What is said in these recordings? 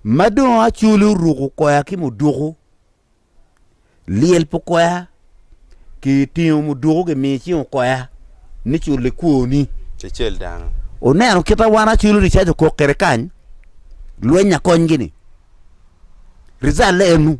Ma dong acoli oruku koya ki muduku, lyel pu koya, ki tingo muduku ki miyo icingo koya ni cul i kwoni. Cecel dano. Oneno kita wan acoli ricac okok kede kany, lwenya kony gini. Rizal le enu.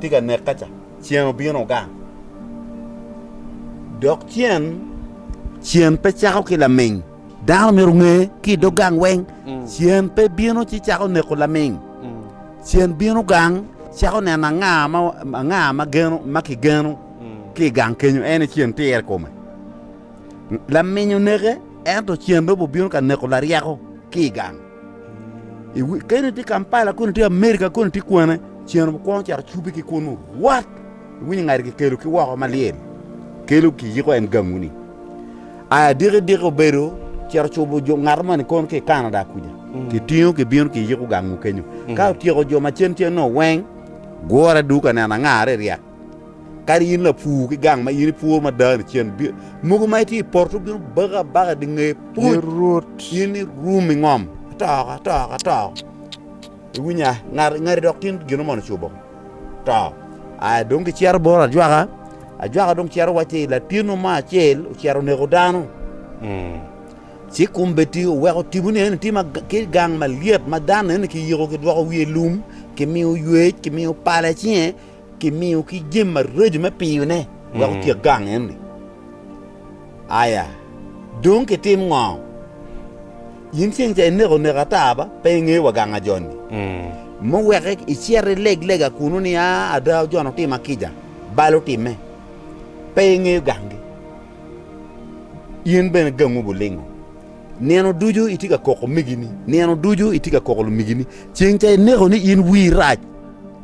tye ka neka ca, cen obino gang. Dok cen, cen pe cako ki laming. Dano myero onge ki i dog gang weng, cen pe bino ci cako neko laming. Cen bino gang cako neno anga ma, anga ma geno, ma kigeno ki i gang kenyo, en aye cen tire kome. Laming oneke, ento cen dong obibino ka neko laryeko ki i gang. Kene tye Kampala koni tye Amerika koni tye kwane cen okwongo cito cubi ki kunu wat iwinyo ngati kikelo ki woko malyel kelo kiyiko en gangu ni aya diki diki obedo cito cubo jo ngato moni kono ki Canada kuja mm. kitingo kibino kiyiko gangu kenyo mm. ka otyeko jo macen cen no weng gure duka neno angare ryek Kadi in lapur ki gang ma in ipuro mada ni cen, mogo ma itye i poto bino bako abaka di nge puc, in irum ingom atoko atoko atoko. Iwinya ngati ngati dok tin gino mono ocubo to. Aya dong gicito bot ajwaka, ajwaka dong cito wacci latino mo acel ocito oneko dano. Ci kombeddi oweko tipo ni eni tye ki gang malyet ma dano eni kiyiko kidwoko wiye lum, kimiyo ywec, kimiyo pala icinge. Kimiyo ki jami maraco me piyone wek otyek gang eni. Aya, dong kitim ngo? In ceng ca ineko neko ata ba, pe ingeyo wa gang ajoni? Me wek icit ileg lega kunnu ni, a, ada ojono tima kica, bal otimme, pe ingeyo gangi. In bene gangwu bulingo. Nino ducu itye ka koko migini, nino ducu itye ka koko lumigini, ceng ca ineko ni in wii rac.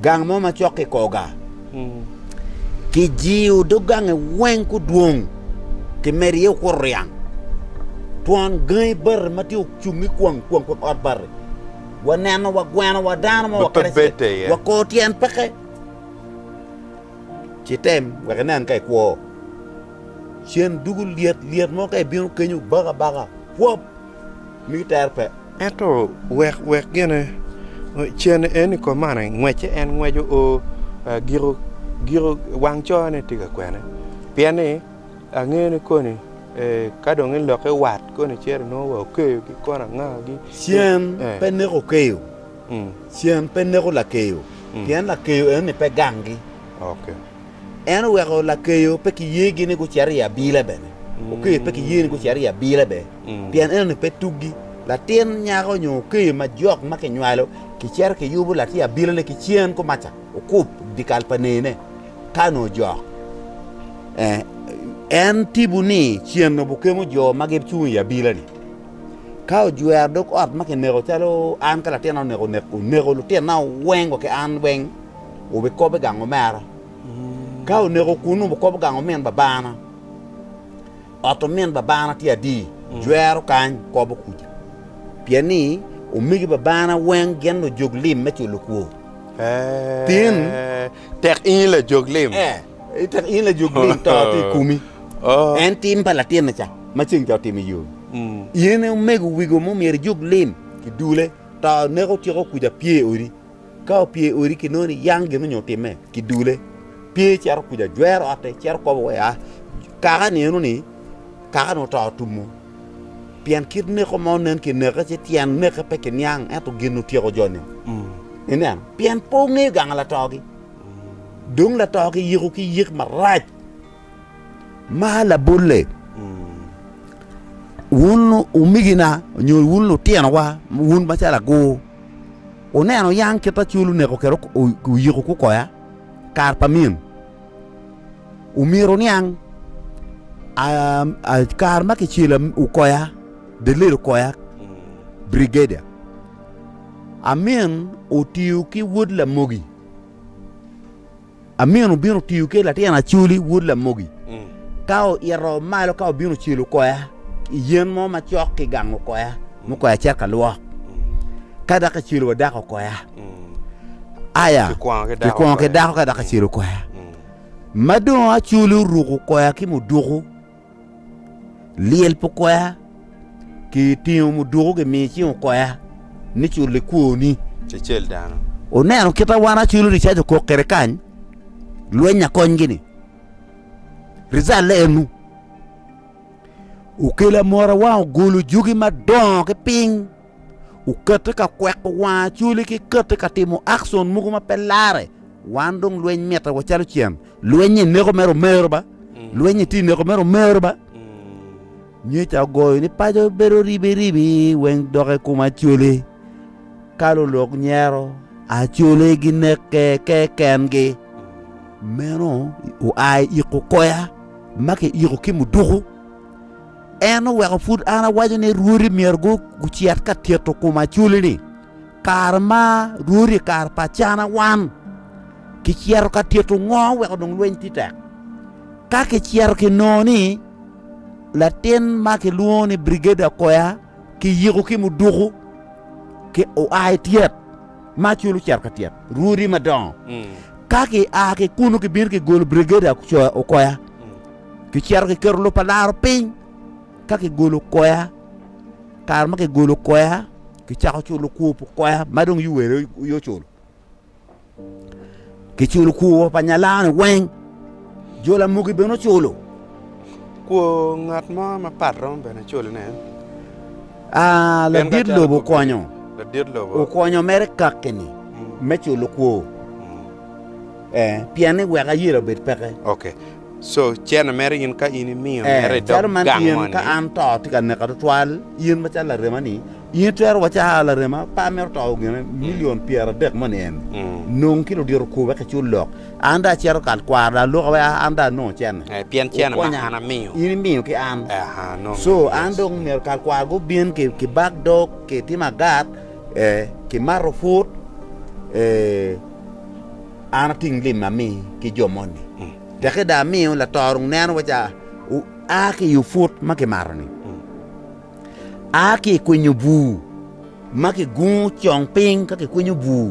Gang mo macok kikoga kijiyo dog gange weng kudwong kimedo iye okuto ryang. Twon gangi bati ma tye ocung i kwang kwang kun ot bati. Waneno wagweno wa dano mo wakerece wakor tyen peke. Ci tem wek inen ka ikwo. Cen dugu lyet lyet mo ka ibino kenyo baka baka pwop. mito tere pe. Ento wek wek gine cen en i kom man ngwece en ngweco o giko giko wang cone tye ka kwene pien ni angeyo ni koni ka dong i loke wat koni ceri nongo wa okeyo ki kona anga gi cen pe neko okeyo cen pe neko lakeyo pien lakeyo eno ni pe gangi. En oweko lakeyo pe kiyegi ni gucito i abila bene, okeyo pe kiyegi ni gucito i abila bene, pien enoni pe tuggi. Latin nyako nyo okeyo ma jok ma kinywalo kicito kiyubo latin abilane ki cen kumaca okup dyekal pa nene ka onongo ojok. En tibu ni cen obukemo jo ma gicung i abilani. Ka ojwero dog ot ma kineko calo an ka latinna oneko, oneko lutinna weng wa ki an weng. wubikobo i gang omera. Ka oneko kunnu, wukobo gang omin babana. Ot omin babana tye adi? Jwero kany, kobo kuca. Pien ni omegi babana weng gin lujog lim me culo kwo. Tin. Tek in lajog lim. Eh, tek in lajog lim, to tye i komi. En tim pa latinne ca ma ceng ca otimo i yo. In omego wigo mo myero ijog lim kidule, to neko ciko kuca pye odi. Ka opye i odi kinongo ni yang gin onyo time kidule pye cito kuca jwero ote cito kobo wai aa kaka ni eno ni kaka ni oto tumo pien kit neko ma onen ki neke ci tyen neke pe ki niang ento gin otyeko jo ni inen pien pe ongeyo ganga latogi dong latogi yiko ki yik marac ma labole wun umigina onyo wun lutino wa wun macalo agur Wuneno yam kit ma cul oneko kede oyiko kukoya kare pa min. Omyero wuniang kare ma kicelo okoya, delil okoya, brigadier, amin otiyo ki wod lamogi. Amin obino tiyo ki latin acoli wod lamogi ka oito malo ka obino celo koya i yen mo macok ki gang okoya mo koya cet ka lwok ka dako ecelo wa dako okoya aya kikwongo ki dako ka dako ecelo koya ma dong acoli oruko koya ki muduku Lyel pi okoya ki tingo mudoko gimiyo icing okoya ni cul likwoni. Cecel dano. Oneno kita wan aculo ricaj okok kede kany lweny akony gini. Rizal le enu. Okela mora wang ogolo jugi madongo ki ping. Okati ka kweko wang acoli ki kati ka timo akson mogo ma pe lare. Wan dong lweny mitte wa calo cen. Lweny-nyi neko mere omero ba. Lweny-nyi ti neko mere omero ba. Nyoca ogoyo ni paco bedo ribi ribi weng dok i kom acoli. Ka lulok nyero, acoli gineke kekengi. Meno oa i iko koya ma kiyiko ki muduku. En oweko pud an awaco ni rwodi myero gucit ka tito kom acoli-ni. Kare ma rwodi i kare pa Acana wan kicito ka tito ngo weko dong lweny tye tek? Ka kicito kinongo ni latin ma kilwongo ni Brigadier Akoya kiyiko ki muduku ki oa i tyet ma acol ocito ka tyet rwodi madongo. Ka kia ki kunu kibino kigolo Brigadier Akoya, Kicito kiketo lub pa laro piny, ka kigolo koya, kare ma kigolo koya, kicako culo kwo pa koya ma dong yuwere yo culo. Kiculo kwo pa nyalani weng, jo lamugi bene oculo. Kwo ngat mo mapat romo bene culone. Ah, ladit lobo okonyo, Ladit lobo. okonyo mere kakki-ni me culo kwo. Eh, pien ni wek ayelo obed peke. Ok. Ee, calo man tye in, ka an to tye ka neka tutwal, in macalo larema-ni, in itwero wacci, aa, larema pa amito to gin milion pyeradek mo nien, nong ki ludito kur wek icul lok, an dong acito kal kwaro dong aloka wek an dong anong cene, wukonya, in imiyo ki an, co an dong myero kal kwaro gubin ki bak dog, ki timo agat, ee, ki mato put, ee. An ating lim ma ami ki jo moni, teke dong amiyo latorung neno waca a ki i oput ma kimato-ni, a ki i kwinyo bur ma kigungo cong piny ka kikwinyo bur,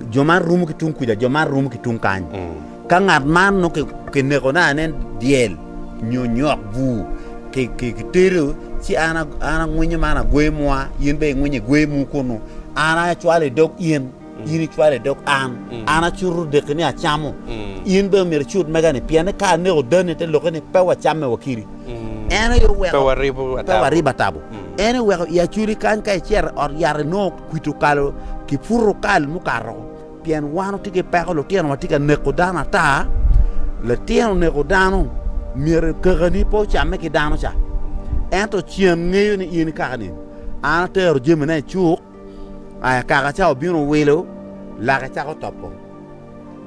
jo man rumo ki tung kuca, jo man rumo ki tung kany. Ka ngat man nongo kineko na ane dyel nyo nyok bur, kitero, ci an angwinyo man agweyo mwa, in bene ingwinyo igweyo mu kunnu, an acwalo i dog in. In icwalo i dog an, an acuto odeki ni acamo. In bene omyero icut mega-ni, pien ni ka aneko dani te loki ni pe wacamme wakiri. En aye oweko pe waribo atabo. En aye oweko i acoli kany ka icito i ot yat inongo kwit okalo ki put okal mukato woko. Pien wan watye ki peko, lutinowa tye ka neko dano ata. Litino neko dano, myero kakani pe ocamme ki dano ca. Ento cen ngeyo ni in ikaka nino. An atero jamina i cuk, I akaka ca obino wilo, lake cako topo.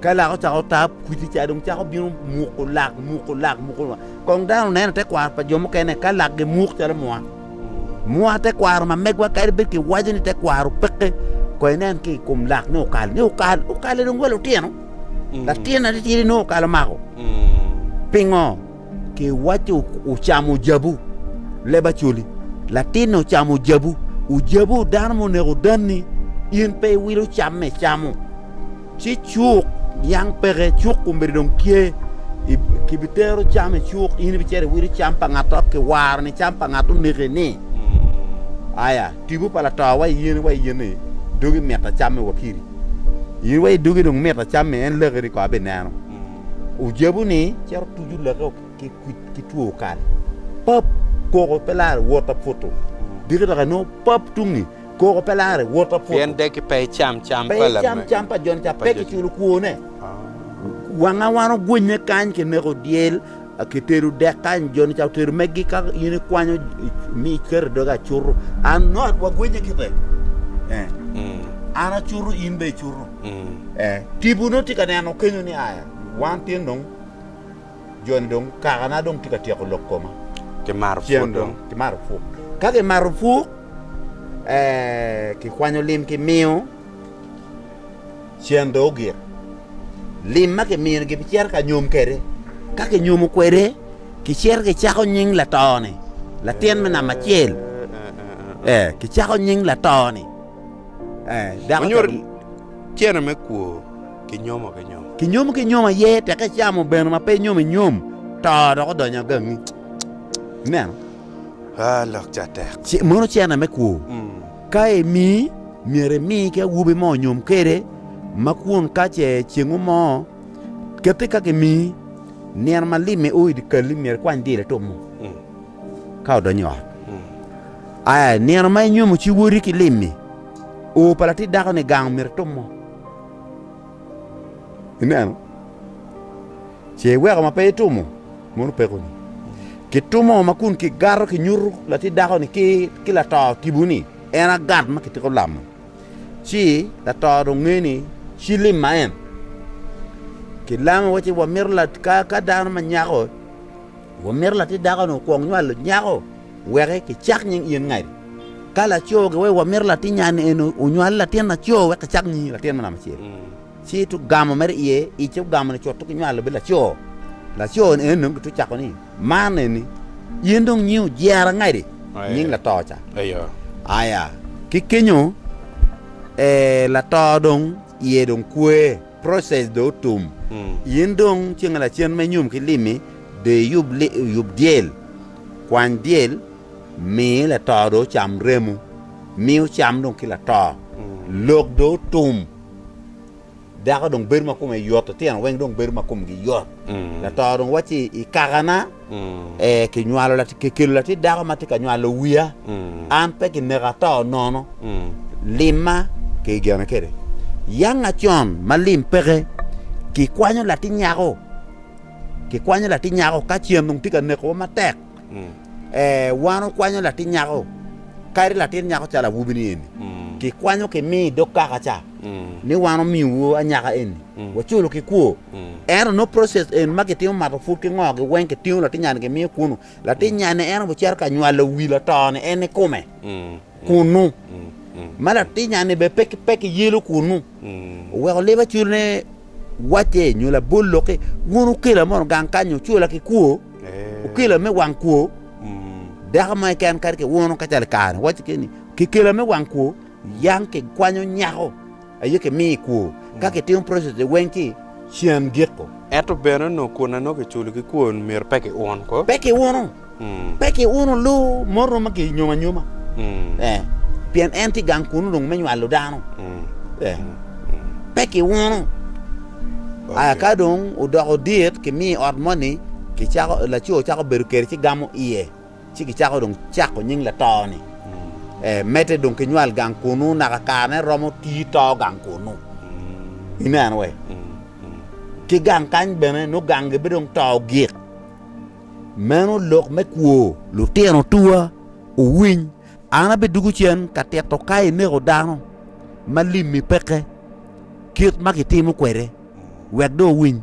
Ka lake ocako tap, kwidi ca dong cako bino muko lak, muko lak, muko lak. Kong dano oneno i tekwaro pa jo mukene ka lakgi muk calo mwa. Mwa tekwaro ma megwa kadi bed kiwaco ni tekwaro peke, ko inen ki i kom lak ni okal, ni okal, okale dong wa lutino. Latin aditidi nongo okal omako. Pingo? Ki waco ocamo jabu, leb acoli. Latinne ocamo jabu, ojabu dano ma oneko danni, in pe iwilo camme icamo. Ci cuk niang peke, cuk omeri dong tye, kibitero cam i cuk, in ibicito iwilo cam pa ngat dok kiwaro ni cam pa ngat oneki-ni. Aya, tipo pa lato wa iyeni wa iyeni, dogi mita camme wakiri. In wa idogi dong mita camme, en laki ni ko abineno. Ojabu-ni cito tucu lake ki kwid ki two kal. Pap! Koko pe lare wot aputu. Diki dok anongo pap tung-ngi, koko pe lare wot aputu. Pien deki pe icam cam pa lame. Pe icam cam pa joni ca, pe kiculo kwone. Wanga wan ogwinye kany kineko dyel. Aketelu dek kany joni ca otero meggi ka in ikwanyo ni iketo dogi acutu an not wagwinye kite eh an acutu in be icutu eh tibu no tye ka neno kenyo ni aya wan tin dong joni dong kaka na dong tye ka tyeko lok koma kimato put dong kimato put ka kimato put eh kikwanyo lim kimiyo cen dong ogik. Lim ma kimino gibicito ka nyom kwede. Ka kinyomo kwede, kicito kicako nying lato-ni, latin me namba acel. Ee, kicako nying lato-ni. Ee, dako Wanyoto calo- tyene me kwo ki nyomo ki nyomo. Kinyomo ki nyom aye, teka icamo bene ma pe inyom inyom, to dok odonyo agangi. Ineno? Ah, lok ca tek. Ce- Mono cene me kwo. Mm. Ka emii, myero imi ki awobi mo onyom kwede, ma kwon ka ce cengu mo kette ka kimii, nino ma limme o i dye kal-li myero ikwany dilo itup mo, ka odonyo i ot. Aa i nino ma inyomo ci woti ki lim-mi, o pa latit dako-ni gang myero itup mo. Ineno? Ce iweko ma pe itumo mono pekoni. Kitumo ma kun kigato kinyuto latit dako-ni ki lato tipo ni en agat ma kitiko lamo, ci lato dong nge ni ci lim ma en. Kilamo waci wamito ka dano ma nyako wamito latit dako-ni okwong nywalo nyako. Weke kicak nying in ngati. Ka laco giwaco wa mito latin nyani eni onywal latin laco wek kicak nyingi latin me namba acel. Ci ito ogamo mere iye, ice ogamo ni cot ki nywalo bed laco. Laco ni eni dong gito cako ni, man eni in dong nyingi ojera ngati, nying lato ca. Aya, ki kenyo lato dong iye dong kwe. Process dong otum. In dong ceng lacen me nyom ki lim-mi, dong iyub yub dyel, kwany dyel, mi lato dong ocam remo, mi ocam dong ki lato. Lok dong otum, dako dong bedo ma kome yot, litino weng dong bedo ma komgi yot. Lato dong wacci, I kakana, Ee, kinywalo, kikelo latit dako ma tye ka nywalo wiya. An pe kineka ato nono. Limma, kigene kwede. Yang acon ma lim peke, kikwanyo latin nyako, kikwanyo latin nyako, ka cen dong tye ka nekowa matek. Ee, wan okwanyo latin nyako, kadi latin nyako calo awobi-ni eni, kikwanyo kimi i dog kaka ca. ni wan omiyowu anyaka eni waculo ki kwo. Ento nongo process eni ma kitimo mato pud ki ngo gi weng kitingo latinyani kimiyo kunu. Latinyani en obicito ka nywalo wi latoni en ikome kunu. Ma latinyani be pe pe kiyelo kunu. Oweko leba culo ni wacce nyo labol loki wun ukela mono gang kanyo ucula ki kwo. Ukela me wang kwo. Dako mo keken kadi kiwuno kacalo kare wacce keni kikela me wang kwo. Yam kigwanyo nyako aye kimiyo i kwo, ka kitimo process-ze weng ki can giko. Ento bene onongo kun anongo kiculo ki kwon myero pe kiun ko. Pe kiunu, pe kiunu lu moto ma kinyomo anyoma, ee, pien en tye gang kunnu dong me nywalo dano, ee, pe kiunu. Aya ka dong odoko dit kimiyo i ot moni, kicako, laco cako bedo kede ci gamo iye. ci gicako dong cako nying lato-ni. E, medde dong ki nywal gang kunnu naka kare ne romo tii to gang kunnu. Ineno we? Ki gang kany bene nongo gang gi bidong to gik. Meno lok me kwo. Lutino tuwa, wuwiny, an abidugu cen ka tito ka ineko dano ma limmi peke, kit ma kitimo kwede, wek dong wuwiny.